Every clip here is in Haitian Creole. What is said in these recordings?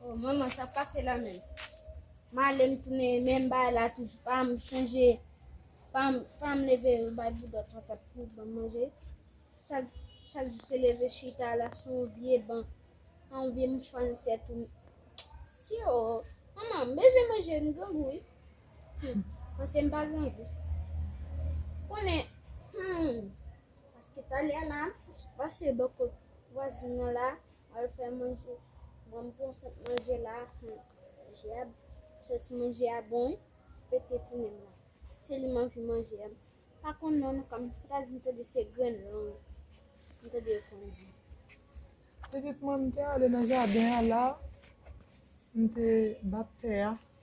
Oh, maman, sa pase la men. Ma ale m tounen menm bay la toujou. Pa m chanje, pa m, pa m leve m bay boudòt patat pou ban manje. Chak, chak jou se leve chita la sou yon vye ban. An yon vye mouchwa nan tèt ou. Si yo, maman, m bezwen manje, m grangou wi. Hum, panse m pa grangou. Konnen, hum, Paske talè a la ou sot pase bò kot vwazin nan la ou al fè manje banm pran sant manje la humm manje a santi manje a bon wi pete pou nenm la se li m anvi manje a m pa konn non nou konn m ta di m tande se grenn long m tande yo konn di. Pitit mwen m te ale nan jaden an la m te bat tè a.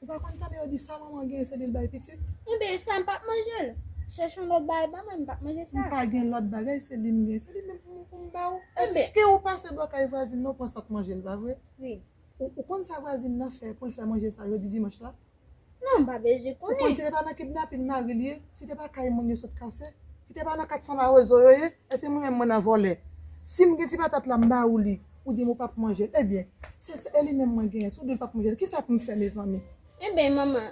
Ou pa konn tande yo di sa manman gen se li l bay pitit. Enben sa m pap manje l. Chèche yon lòt bagay ban mwen m pap manje sa. M pa gen lòt bagay se li m gen. Se li menm pou m ba ou. Èske ou pase bò kay vwazin nan ou pran sat manje l pa vre? Wi. Ou konn sa vwazin nan fè pou l fè manje sa jodi dimanch la? Non m pa bezwen konnen. Ou konn si te pa nan kidnapin mari l ye, si te pa kay moun yo sot kase, si te pa nan 400 mawozo yo ye, èske mwen menm mwen nan vòlè? Si m gen ti patat la m ba ou li. Ou dim ou pap manjel. Ebyen. Se se li menm mwen genyen. Si w dim pap manjel. Kisa pou m fè mezanmi. Ebyen manman.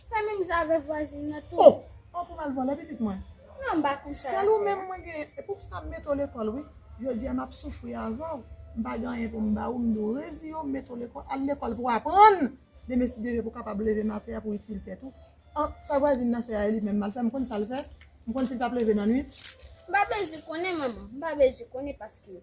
Fè menm jan avèk vwazin nan tou. Oh! Oh pou m al vòlè pitit mwen. Non m pa konn sa. Sèl ou menm mwen genyen. E pou kisa m mete w lekòl wi. Jodi a map soufri avè w. M pa gen anyen pou m ba ou. M di w reziye w m mete w lekòl. Al lekòl pou w aprann. Demen si Dye vle pou w kapab leve nan atè a pou w itil tèt ou. Oh! Sa vwazin nan fè a e li menm mal fè. M konn sa l fè. M konn si l tap leve nan nwit. M pa bezwen konnen manman. M pa bezwen konnen paske.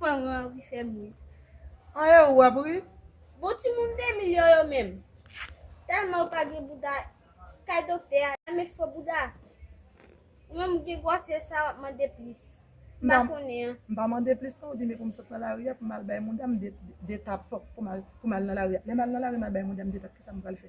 Fanm an anvi fèm ri. An e ou ap ri? Bon ti moun 2 milyon yo menm. Tèlman ou pa gen bouda kay doktè a yo met fo bouda. Ou menm ou gen gwòsè sa wap mande plis. M pa konnen an. M pa mande plis non ou di men pou m sot nan lari a pou m al bay moun dam 2 tap pou m al nan lari a. Lè m al nan lari m al bay moun dam 2 tap kisa m pral fè?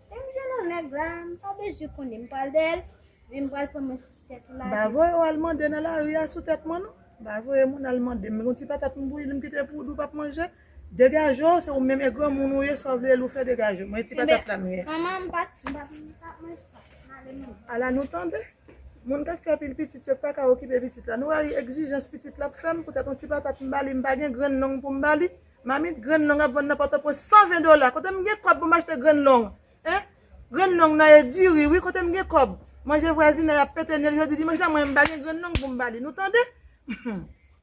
Lè m jwenn yon nèg la, m pa bezwen konnen, m pral dèyè l, men m pral pran mwen sou tèt ou lage. M pa voye w al mande nan lari a sou tèt mwen non. M pa voye moun al mande m yon ti patat m bouyi li m kite pou ou di w p ap manje. Degaje w, se ou menm e granmoun ou ye, sa w vle l ou fè degaje w. Mwen yon ti patat la m gen. Manman, m pa m pa ap manje sa. M ale manman. Ala nou tande! Moun k ap fè pil pitit yo k pa ka okipe pitit la. Nou rayi egzijans pitit la ap fè m poutèt yon ti patat m ba li, m pa gen grenn long pou m ba li. Mamit grenn long ap vann nan pòtoprens 120 dola kote m gen kòb pou m achte grenn long hein grenn long nan e di ri wi kote m gen kòb manje vwazinay ap pete nez jodi dimanch la mwen menm m pa gen grenn long pou m ba li nou tande humm.